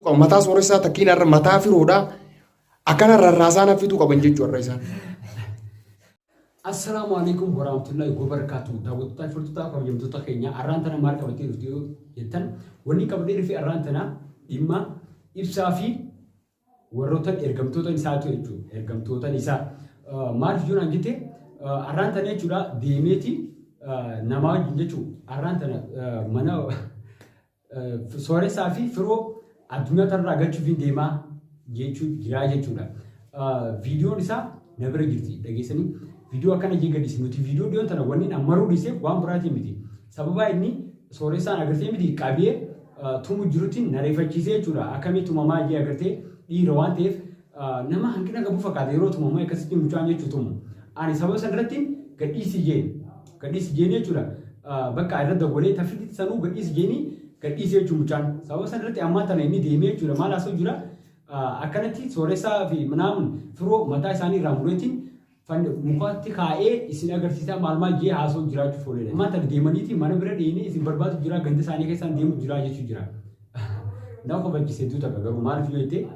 Mataa sooressaa takkiin har'a mataa firoodhaa akkana rarraasaa na fiduu qaban jechuu har'a isaan. Assalaamu alaikum warahmatullahi wabarakatuh. Daawwattoota firtootaa kabajamtoota keenya arraan tana maal qabatee dhufte yoo jettan wanni qabadee dhufe arraan tana dhimma ibsaa fi warroota ergamtoota isaa ta'e jechuudha. Ergamtoota isaa maaliif yoo naan jette arraan tana jechuudha deemeeti namaa wajjin jechuudha. Arraan tana mana Sooressaa fi firoo addunyaa tanarraa galchuufiin deemaa jechuu jiraa jechuudha. Viidiyoon isaa na bira jirti dhageessanii viidiyoo akkana jee gadhiise nuti viidiyoo dhiyoon tana wanni an maruu dhiiseef waan biraatiin miti. Sababaa inni sooressaan agartee miti qabee tumu jirutti na reefachiisee jechuudha. Akkamii tumamaa jee agartee dhiira waan ta'eef Nama hanqina qabu fakkaata yeroo tumamu akkasitti mucaan jechuu tumu. Ani sababa san irratti gadhiisi jeen. Gadhiisi jeen jechuudha. Bakka irra dawwalee tafiti sanuu gadhiisi jeeni gadhiisi jechuu mucaan. Sababa san irratti ammaa tana inni deemee jechuudha maal haasoo jira. Akkanatti sooressaa fi minaamun firoo mataa isaanii irraa mureetiin Fann mukatti kaa'ee isin agarsiisaa maal maal je'ee haasawutti jiraachuuf oole jedhe. Ammaan tana deemaniiti mana bira dheeynee isin barbaadutti jiraa ganda isaanii keessaan deemutti jiraa jechuun jiraa. Na kofalchise hedduu takka garuu maaliif yoo jettee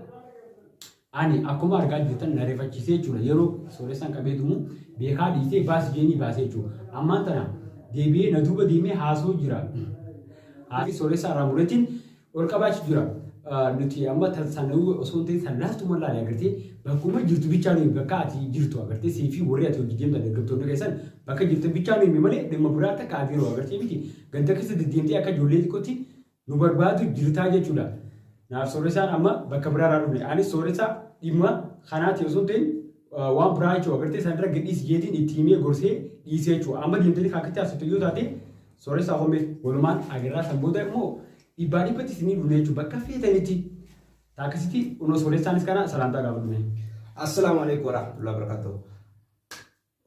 ani akkuma argaa jirtan na rifachiisee jechuudha yeroo sooressaan qabee tumu beekaa dhiisee baasi jeenii baasee jechuudha. Ammaan tana deebi'ee na duuba deemee haasawuu jira. Haasii sooressaa irraa muretiin Ol qabaachu jira. Nuti amma tan sanawii osoo hin ta'in san laaftuma laale agartee bakkuma jirtu bichaa nuyi bakka ati jirtu agartee sii fi warri ati hojii deemtan ergamtoonni keessan bakka jirtan bichaa nuyi malee dhimma biraa akka kaabiiroo agartee miti ganda keessa deddeemtee akka ijoollee xiqqootti nu barbaadu jirtaa jechuudha. Naaf sooressaan amma bakka biraa irraa dhufne anis sooressaa dhimma kanaati osoo hin ta'in waan biraa jechuudha agartee sanirra gadhiisi jeetiin itti himee gorsee dhiisee jechuudha amma deemtanii kan akkatti haasoftan yoo taate Sooressaa koo mee walumaan agarraa san booda immoo dhibbaa dhibbatti isinii dhufne jechuun bakka feetanitti taakkisitti unoo sooressaanis kana salaamtaa gaafadhu mee. Assalaamu alaikum warahmatullahi wabarakatuh.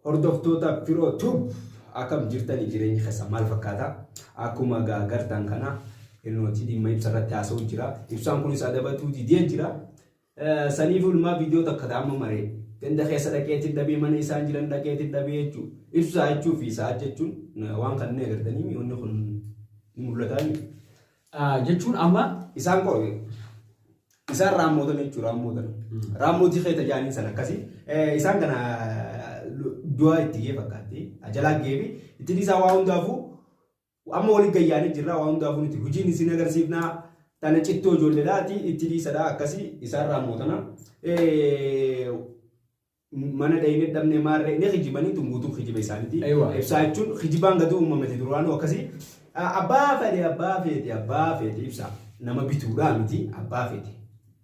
Hordoftoota Firoo Tub akkam jirtanii jireenyi keessan maal fakkaata? Akkuma gaa gartaan kana ilnooti dhimma ibsa irratti haasa'u jira. Ibsaan kunis adabatuu didee jira. Saniifuu ilmaa viidiyoo takka ta amma maree ganda keessa dhaqeetiin dhabee mana isaan jiran dhaqeetiin dhabee jechuu ibsaa jechuu fi sa'aat jechuun waan kan inni agartanii mi wanni kun ni mul'ataa mi jechuun amma isaan qo isaan raammootame jechuu raammootame raammootii keessa jaaniin san akkasii isaan kana du'aa itti gee fakkaatti ajalaa gee fi itti dhiisaa waa hundaafuu Amma wali gayyaanii jirraa waa hundaafuu nuti hojiin isin agarsiifnaa tana cittoo ijoolleedhaati itti dhiisadha akkasii isaarraa mootana. Mana dhayinee dhabnee maarree ni kijibanii tun guutuu kijiba isaaniiti. Eewwa. Ibsaa jechuun kijibaan gadi uumamati duraanuu akkasii. Abbaa fedhe abbaa feete abbaa feete ibsaa nama bituudhaa miti abbaa feete.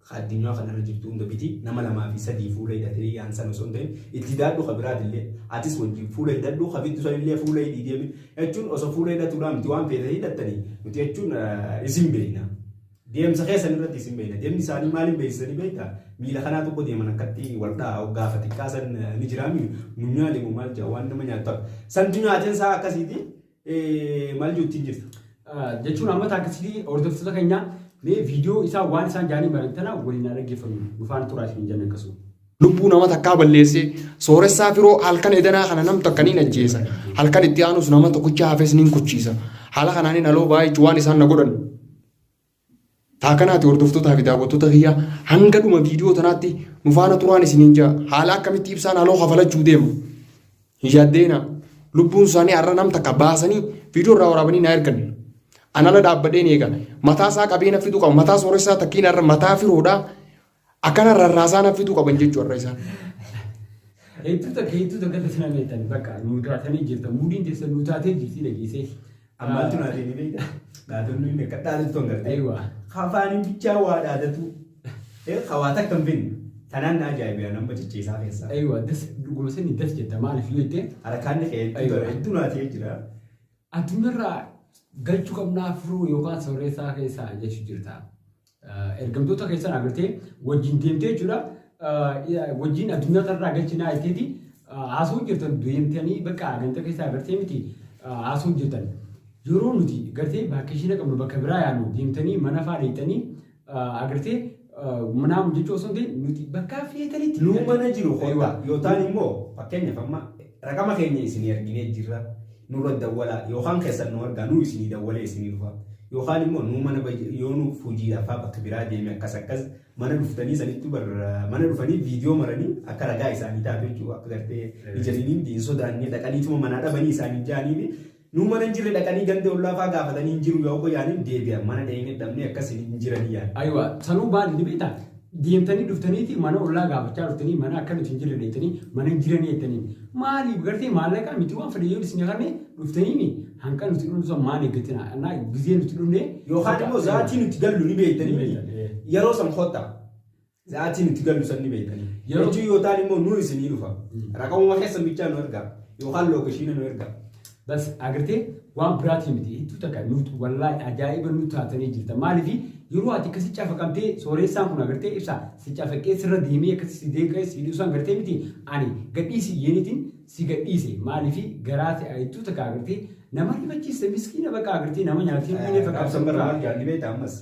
ka addunyaa kana irra jirtu hunda biti nama lamaa fi sadii fuula hidhate hiyyaan san osoo hin ta'in itti hidhaadhu ka biraatillee atis wajjin fuula hidhadhu ka bittu sanillee fuula hidhii deemi jechuun osoo fuula hidhatuudhaa miti waan feete hidhattanii nuti jechuun isin beekna deemsa keessan irratti isin beekna deemni isaanii maaliin beeksisanii beekta miila kanaa tokko deeman akkatti waldhaa gaafa xiqqaa san ni jiraami munyaa deemu maal jaa waan nama nyaattu santu nyaateen isaa akkasiiti Eh, maal jechuun jirta? Ah, jechuun amma taakkisitii hordoftoota keenyaa mee viidiyoo isaa waan isaan jaanii baran tana waliin haa dhaggeeffannu dhufaan turaa isin jenna akkasuma. lubbuu nama takkaa balleessee sooressaa firoo halkan edanaa kana nam takka niin ajjeesa halkan itti aanus nama tokkicha hafes niin kuchiisa haala kanaanin haloo baay'eechu waan isaan na godhan Taa kanaati hordoftotaa fi daawwattoota kiyya hanga dhuma viidiyoo tanaatti nu faana turaan isiniin ja'a haala akkamitti ibsaan haloo kafalachuu deemu hin yaaddeena lubbuun isaanii har'a nam takka baasanii viidiyoo irraa waraabanii naa ergan anala dhaabbadheen eega mataa isaa qabeena fidu qaba mataa sooressaa takkiin har'a mataa firoodhaa Akkana rarraasaa naffituu qaban jechuu har'a isaan. Hedduu takka hedduu takka irratti nama beektan bakka nuu taatanii jirtan muudiin teessan nuu taatee jirti dhageessee. Ammaatu naa ta'e beekta. Dhaadonni inni akka dhaadatu kan gartee. Eewa. Hafaaniin bichaa waa dhaadatu. Eh, Hawaa takka hin finne. Tanaan na ajaa'ibeera nama cicciisaa keessaa. Eewa das dhuguma sanii das jetta maaliif yoo jettee Harkaan ni ka'e Aywa. hedduu naa ta'e jira. Addunyaarraa galchu qabnaa firuu yookaan sooressaa keessa jechu jirta. Ergamtoota keessan agartee wajjin deemtee jechuudha. Wajjin addunyaa kanarraa galchinaa jetteeti haasawuu jirtan deemtanii bakka ganta keessa agartee miti haasawuu jirtan. Yeroo nuti gartee vaakkeeshina qabnu bakka biraa yaanu deemtanii mana fa'aa deemtanii Agartee naamu jechuu osoo hin ta'in nuti bakka feetanitti. Nuu mana jiru kottaa yootaan immoo fakkeenyaaf amma raqama keenya isinii arginee jirra nurra dawwalaa yookaan keessan nu argaa nuu isinii dawwalee isinii dhufa yookaan immoo nuu mana yoo nuuf hojiidhaafaa bakka biraa deeme akkas akkas mana dhuftanii sanittuu barra mana dhufanii viidiyoo maranii akka ragaa isaanii taatu jechuudha akka gartee ijariiniin hin sodaannee dhaqaniituma manaa dhabanii isaaniin jaanii fi Nuu mana hin jirre dhaqanii ganda ollaa faa gaafatanii hin jiru yoo koyaan hin deebi'an mana dhayne dhabne akkas hin jiranii yaan. Aywa sanuu baadi ni beektaa deemtanii dhuftaniiti mana ollaa gaafachaa dhuftanii mana akka nuti hin jirre dhaytanii mana hin jiranii jettaniin maaliif gartee maallaqaa miti waan fedhe yoo isin kanne dhuftaniimi hanqa nuti dhumnu san maal eeggatina annaa gizee nuti dhumne Yookaan immoo zaatii nuti gallu ni beektanii miti. Ni beektan, ee. Yeroo san kottaa. Za'atii nuti gallu san ni beektanii. Yeroo- Jechuu yoo ta'an immoo nu isinii dhufa. Raqamuma keessan bichaa nu ergaa. Yookaan lookeeshiina nu ergaa. Bas agartee waan biraatii miti hedduu takka nuti wallaahi ajaa'iba nu taatanii jirta maaliif yeroo ati akkasi cafaqamtee sooreessaan kun agartee ibsa si cafaqee sirra deemee akkasi si deeqee si dhiisaan gartee miti ani gadhiisi yeenitiin si gadhiise maalifi garaa si ayittuu takka agartee nama rifachiiste miskiina bakka agartee nama nyaatee hin dhiine fakkaatu Raabsan bara maal jaanii beektaa ammas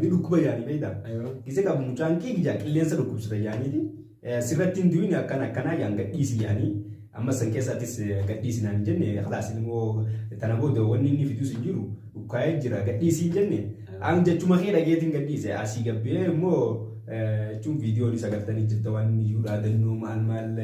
ni dhukkuba jaanii beektaa. Aywa. Gise qabu mucaan kee gijaa qilleensa dhukkubsata jaaniiti. Sirratti hin du'in akkan akkanaa jaan gadhiisi jaanii. Ammas san keessattis gadhiisi naan hin jenne kalaas ilmoo tana booda wanni inni fidus hin jiru. Ukkaa'ee jira gadhiisiin jenne an jechuma kee dhageetiin gadhiise asii gabbee immoo jechuun viidiyoon isa galtanii jirta waan inni iyyuu dhaadannoo maal maal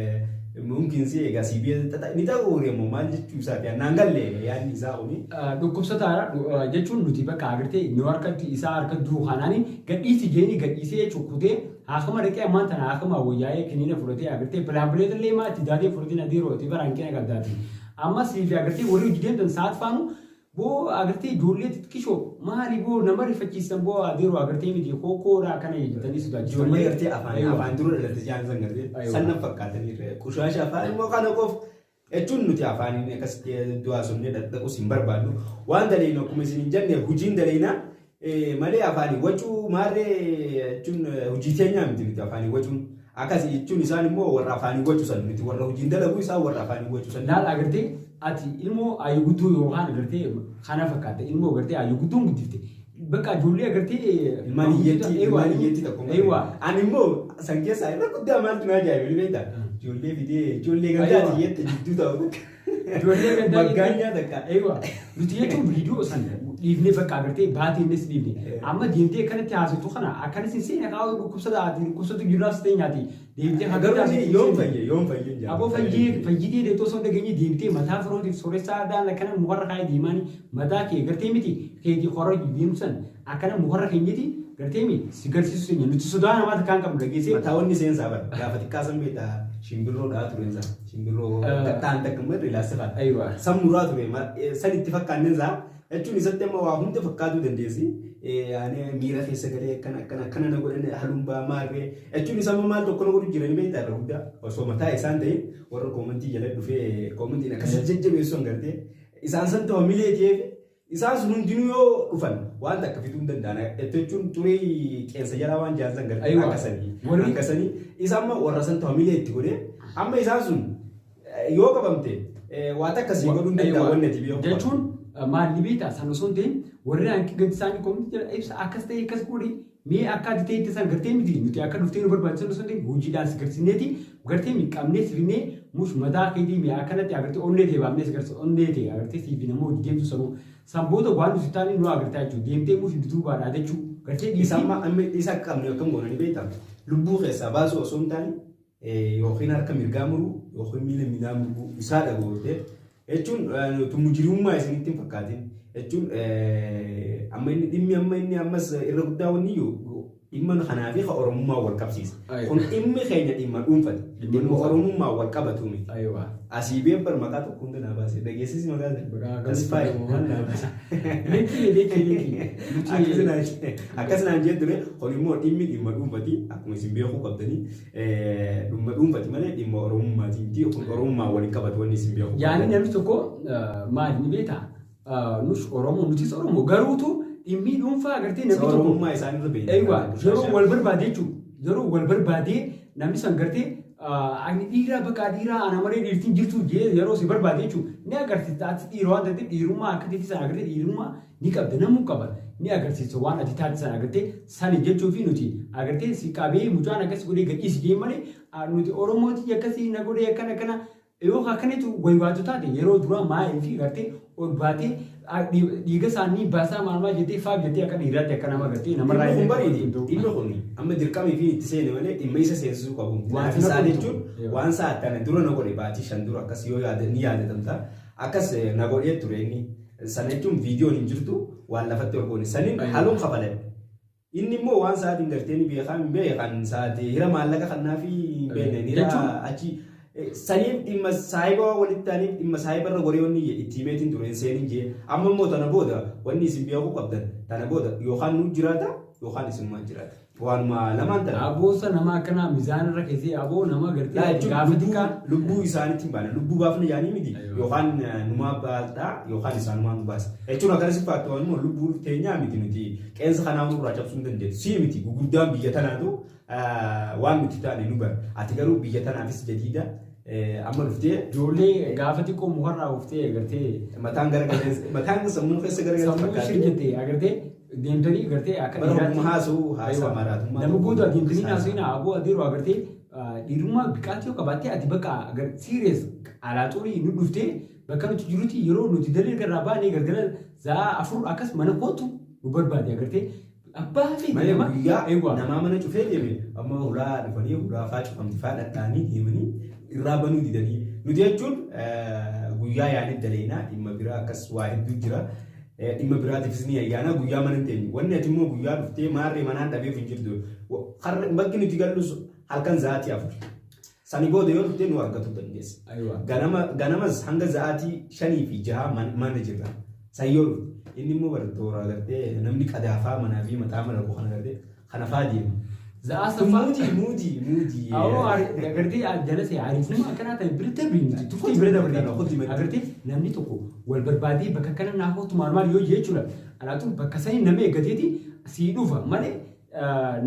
mumkin si egaa si biyya xaxa ni ta'uu immoo maal jechuu isaati annaan galle yaadni isaa kuni. Dhukkubsataara jechuun nuti bakka agartee nu harkatti isaa harka jiru kanaan gadhiisi jeeni gadhiisee cukkutee haakama dhaqee ammaan tana haakama wayyaa'ee kiniina fudhatee agartee pilaampileet illee maatti daatee fudhatee na diiroo itti baraan kee na qabdaati. Amma siifi agartee warri hojii deemtan sa'aat faanu Boo agartee ijoollee xixiqishoo maali boo nama rifachiisan boo adeeroo agartee miti koo koodhaa kana jedhanii sodaachisanii. Ijoollee gartee afaan Aywa. afaan dura dhalatte jaan san gartee Aywa. san nan fakkaatanii irra qushaasha afaan immoo kana qof jechuun nuti afaaniin akkasitti du'aa sonnee dhaqdhaqus hin barbaannu waan daleeynu akkuma isin hin jenne hojiin daleeynaa malee afaanii wacuu maarree jechuun hojii keenyaa miti nuti afaanii wacuun akkasi jechuun isaan immoo warra afaanii wacu san nuti warra hojiin dalaguu isaan warra afaanii wacu san. Laal agartee ati ilmoo ayyuu guddoo yookaan agartee kana fakkaatte ilmoo agartee ayyuu guddoon guddifte bakka ijoollee agartee ilmaan hiyyeetti ilmaan hiyyeetti tokko Eewwaa. ani immoo san keessaa irra guddaa maaltu naa jaa'ibe beektaa ijoollee fidee ijoollee gandaati hiyyeetti jidduu ta'u Ijoollee gaddaa Maggaan jechuun- nyaata akka. Eewa. Nuti jechuun viidiyoo san dhiifnee bakka agartee baatee innis dhiifne. Amma deemtee akkanatti haasoftu kana akkanis hin seene kaa'u dhukkubsata ati dhukkubsatu jiraas ta'e nyaati. Deemtee Garuu haggataa ishee yoom fayye yoom fayye hin Aboo fayyee fayyitee deettoo osoo hin dhageenye deemtee mataa firootiif sooressaa aadaan akkana mukarra kaa'ee deemaanii mataa kee gartee miti keetii korra deemsan Akkana mukarra kenyeti garteemi si garsiisu senya nuti sodaa namaa takkaa hin qabnu dhageessee. Mataawwanni seensaa bar gaafa xiqqaa san beektaa shimbirroo dhaa tureen isaa shimbirroo Ah. gaxxaan takka immoo irra ilaalsa faata. Aywa. San muraa ture ma- eh, san itti fakkaanneen isaa jechuun isatti amma waa hunda fakkaatuu dandeessi. Eh, Ani miira keessa galee akkana akkana akkana na godhan haluun ba'aa maarree jechuun isa amma maal tokko na godhu jiranii beektaa irra guddaa osoo mataa isaan ta'e warra koomantii jala dhufee koomantiin akkasii jajjabeessu hin gartee isaan san ta'u milee ta'eef Isaan sun hundinuu yoo dhufan waan takka fiduu hin danda'an. Itti jechuun xurii qeensa jalaa waan jaan san gartee Aywa. akka sanii. Warri- Akka sanii. Isa amma warra santu hamilee itti godhee amma isaan sun eh, yoo qabamte eh, waa takka sii godhuu hin danda'an wanni ati biyya hundaa. jechuun maalli beektaa san osoo hin ta'in warri hanqi gadi isaanii komiti jira ibsa akkas ta'e akkas godhi Mee akka ati teette san gartee miti nuti akka dhuftee nu barbaachisan osoo hin ta'in hojiidhaan si garsiisneeti gartee mi qabnee si fidnee mush mataa keetii mi akkanatti agartee onnee tee baafnee si garsiisa onnee tee agartee sii fi namooti deemtu sanuu san booda waan nu si taane nu agartaa jechuu deemtee mush duduubaa dhaadachuu gartee Isa dhiisii amma amma isa akka qabne akkam goona ni beektaa? Lubbuu keessaa baasuu osoo hin taane yookiin harka mirgaa muruu yookiin miila miilaa muruu isaa dhagoorte jechuun mujrimummaa isinitti hin fakkaatin jechuun amma inni dhimmi amma inni ammas irra guddaa wanni yoo dhimma kanaa fi ka oromummaa wal qabsiisa. Ayi. Kun dhimmi keenya dhimma dhuunfati. Dhimma Dhimma dhuunfaa. oromummaa wal qabatu miti. Aywa. Asii beekbar maqaa tokko hunda naa baase dhageessisi maqaa Maqaa sana. akkamitti Tasfaa jedhamu? waan naa baase. Linkii linkii linkii. Akkas naan- Akkas naan jee ture kun immoo dhimmi dhimma dhuunfati akkuma isin beekuu qabdanii Dhumma dhuunfati malee dhimma Oromummaati miti. Kun Oromummaan wal hin qabatu wanni isin beeku. Yaadni namni tokko ah, maali ni beektaa? Ah, Nus Oromoo, nutis Oromoo. Garuutu dhimmii dhuunfaa agartee namni tokko. Oromummaa isaanii irra beekna. Eeywaa, yeroo wal barbaade jechuudha. Yeroo wal barbaade namni san gartee ah, ani dhiiraa bakka dhiiraa ana malee dhiirtiin jirtu jee yeroo si barbaade jechuudha. Ni agarsiista ati dhiira waan ta'eef dhiirummaa akka keetti sana agartee dhiirummaa Ni qabda namu qaba ni agarsiisa waan ati taate sana agartee sani jechuufi nuti agartee si qabee mucaan akkas godhee gadhiisi jeen malee nuti oromooti yakkasi na godhee akkana akkana yoo akkanitu waywaatu taate yeroo duraa maaliifi gartee ol baatee dhiiga isaanii baasaa maal maal jettee faaf jettee akka dhiiraatti akka nama gartee namarraa Dhimmi kun illee bariiti. hin ta'u. Dhimmi kun amma dirqamii fi itti seene malee dhimma isa seensisuu qabu. Waan Waan sana isaa godhu. jechuun Yoo. waan isaa tana dura na godhe baatii shan dura akkas yoo yaada ni yaadatamta. Akkas eh, na godhee ture inni. Sana jechuun viidiyoon hin jirtu waan lafatti ol goone saniin Ayyoo. haluun kafaladhe. Inni immoo waan sa'aatiin galtee ni beekaa hin beekan sa'aatii hira maallaqa kannaa fi hin beekne ni Jechuun? raa achi eh, saniif dhimma saahiba waan walitti taaniif dhimma saahiba irra goree wanni jee itti himeetiin ture hin seenin jee amma immoo tana booda wanni isin beekuu qabdan tana booda yookaan nuu jiraata yookaan isin maan jiraata. Waanuma lamaan tana. Aboosa nama akkanaa mizaan irra keessee aboo nama Laa gartee jechuun gaafa lubbuu- xiqqaa. lubbuu isaanitti hin baane lubbuu baafna yaanii miti Aywa. yookaan eh, numaa baasdhaa yookaan isaanumaa nu baasa jechuun akkana si faatu waan immoo lubbuu teenyaa miti nuti qeensa kanaa nurraa cabsuu hin dandeessu si miti gurguddaan biyya tanaatu eh, waan nuti taane nu bara ati garuu biyya tanaafis jadiida eh, amma dhuftee Ijoollee gaafa xiqqoo mukarraa uftee agartee mataan gara galee mataan sammuu keessa gara galee sammuu fakkaatee. shirkite agartee deemtanii gartee akka Bara dhiiraatti- ogummaa haasa'uu haasaa Aywa. maraatummaa Nama tokko gootu adeemtanii keessaa- naasofina aboo adeeroo agartee ah, dhiirummaa biqaatti yoo qabaatte ati bakka agar siiriyees alaaxuurii nu dhuftee bakka nuti jirutti yeroo nuti dalee garraa baanee galgala za'aa afur akkas mana kootu nu barbaade agartee abbaa fi Mana nama guyyaa eewwa namaa mana cufee deeme amma hulaa dhufanii hulaa faa cufamti faa dhadhaanii deemanii irraa banuu didanii nuti jechuun eh, guyyaa yaanii daleenaa dhimma biraa akkas waa hedduu jira Dhimma biraatiifis ni ayyaana guyyaa mana hin teenyu. Wanni ati immoo guyyaa dhuftee maarree manaan dhabeef hin jirtu. Bakki nuti gallus halkan za'aatii afur. Sani booda yoo dhufte nu argatu dandeessa. Ganamas hanga za'aatii shanii fi jaha mana jirra. San yoo dhufte. Inni immoo bara toora agartee namni qadaafaa manaa fi mataa mala kana agartee. kana faa deema. Za'aa saffaa. Muudii muudii muudii. Awoo agartee jalase ariifnuma akkanaa ta'e bira darbe miti tufti bira darbe agartee namni tokko wal barbaadee bakka kana naa kootu maal maal yoo jechuudha alaatu bakka sanii nama eeggateeti sii dhufa malee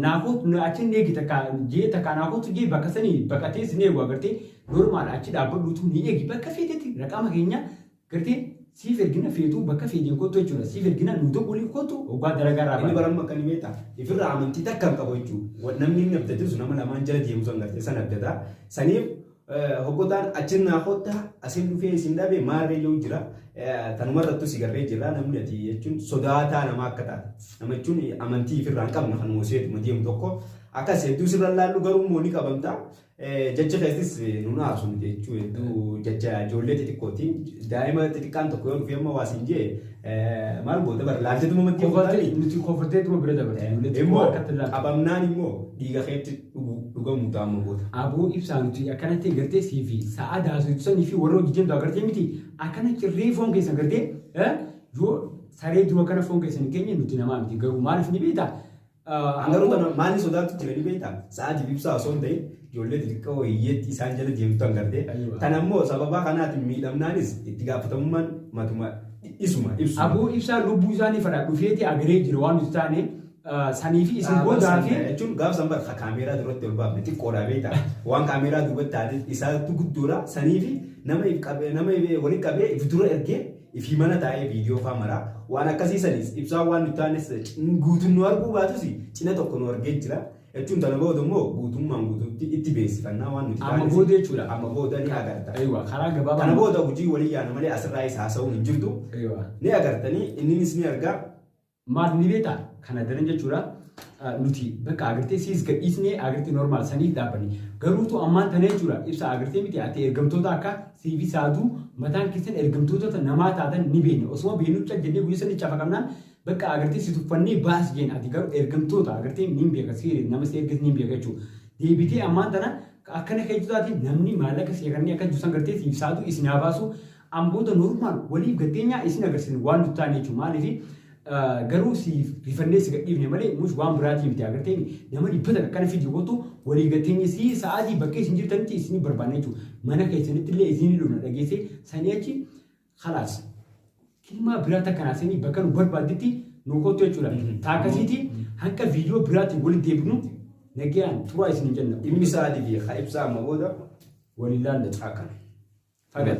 naa kootu achi hin eegi takka jee takka naa kootu jee bakka sanii bakka teessi ni eegu agartee normaal achi dhaabbadhuutu ni eegi bakka feeteeti raqama keenya Gartee siif ergina feetuu bakka feeteen kottu jechuudha. Siif ergina nuu tokko waliif kottu hoggaa dalagaa irraa Inni baane. baramma akka inni beektaa? Ifirraa amantii takka hin qabu jechuu. Wa- Namni inni abdate sun nama lamaan jala deemu san gartee san abdata. Saniif eh, hoggotaan achin naa kottaa asin dhufee isin dhabe maarree yoo jira eh, tanumarrattu si garree jirra namni ati jechuun sodaataa namaa akka taate. Nama jechuun amantii ifirraa hin qabne kanuma seetuma deemu tokko akkas hedduu sirra hin laallu garuu immoo ni qabamta. Jecha keessis nun aarsu nuti jechuun hedduu jecha ijoollee xixiqqooti. Daa'ima xixiqqaan tokko yoo dhufee amma waa siin jee maal goota bara laalchatuma maddii Kofatee gootanii. nuti kofatee tuma bira dabarti. Ijoollee xiqqoo Immoo harkatti ilaaltu. qabamnaan immoo dhiiga keetti dhugu dhugamuu ta'a amma goota. Aboo ibsaa nuti akkanatti gartee sii fi sa'aa daasuutu sanii fi warra hojii deemtu agartee miti akkana cirree foon keessan gartee eh, yoo saree jiru akkana foon keessan hin keenye nuti namaa miti garuu maaliif ni beekta An garuu kana maaliin sodaattu ture ni beektaa? Sa'aatii ibsaa osoo hin ta'in ijoollee xixiqqoo hiyyeetti isaan jala deemtu an gartee. Aywa. Tan ammoo sababaa kanaatiin miidhamnaanis itti gaafatamummaan matuma isuma ibsu. Aboo ibsaan lubbuu isaanii fadhaa dhufeeti agaree jira waan nuti taane ah, sanii fi isin boodaa fi jechuun gaaf san bar kaameeraa duratti ol baafne xiqqoodha beektaa waan kaameeraa duubatti taate isaatu guddoodha sanii fi nama if qabee nama if walitti qabee if dura ergee Ifii mana taa'ee viidiyoo faa maraa waan akkasii saniis ibsaa waan nu taanes guutuun nu arguu baatus cina tokko nu argee jira. Jechuun tana booda immoo guutummaan guutuutti itti beeksifannaa waan nuti Amma taanes booda jechuudha. amma booda ni agarta. Eeywa karaa Kana gabaabaa. booda hojii walii yaana malee asirraayis haasa'uun hin jirtu. Eeywa. Ni agartanii inninis ni argaa. Maaf ni beektaa? Kana daran jechuudha nuti bakka agartee siis gadhiisnee agartee normaal saniif dhaabbanne. Garuutu ammaan tana jechuudha ibsa agartee miti ati ergamtoota akka siifi saaduu mataan keessan ergamtoota namaa taatan ni beekna. Osuma beeknu cal jennee guyya sanii cafaqamnaan bakka agartee si tuffannee baas jeen ati garuu ergamtoota agartee niin beeka siiri nama si erges niin beeka jechuudha. Deebitee ammaan tana akkana keetu taate namni maallaqa seekannee akka jirtu san gartee siif saaduu isin haa baasu Amboota normal waliif gatteenyaa isin agarsisne waan nut taane jechuu maalifi garuu siif rifannee si gadhiifne malee mush waan biraatii miti agarteemi nama dhibba takka akkana fidi kotu waliif gatteenye sii sa'aatii bakka isin jirtanitti isini barbaanna jechuu mana keessanittillee isini dhufna dhageessee sanii achi kalaas kilmaa biraa takka naa seenii bakka nu barbaadditti nu kottu jechuudha taakkasiitii hanga viidiyoo biraatiin walitti deebinu nagayaan turaa isinin jenna. Dhimmi sa'aatii fi ka ibsaa amma booda waliin laalla caakkan. Fagan.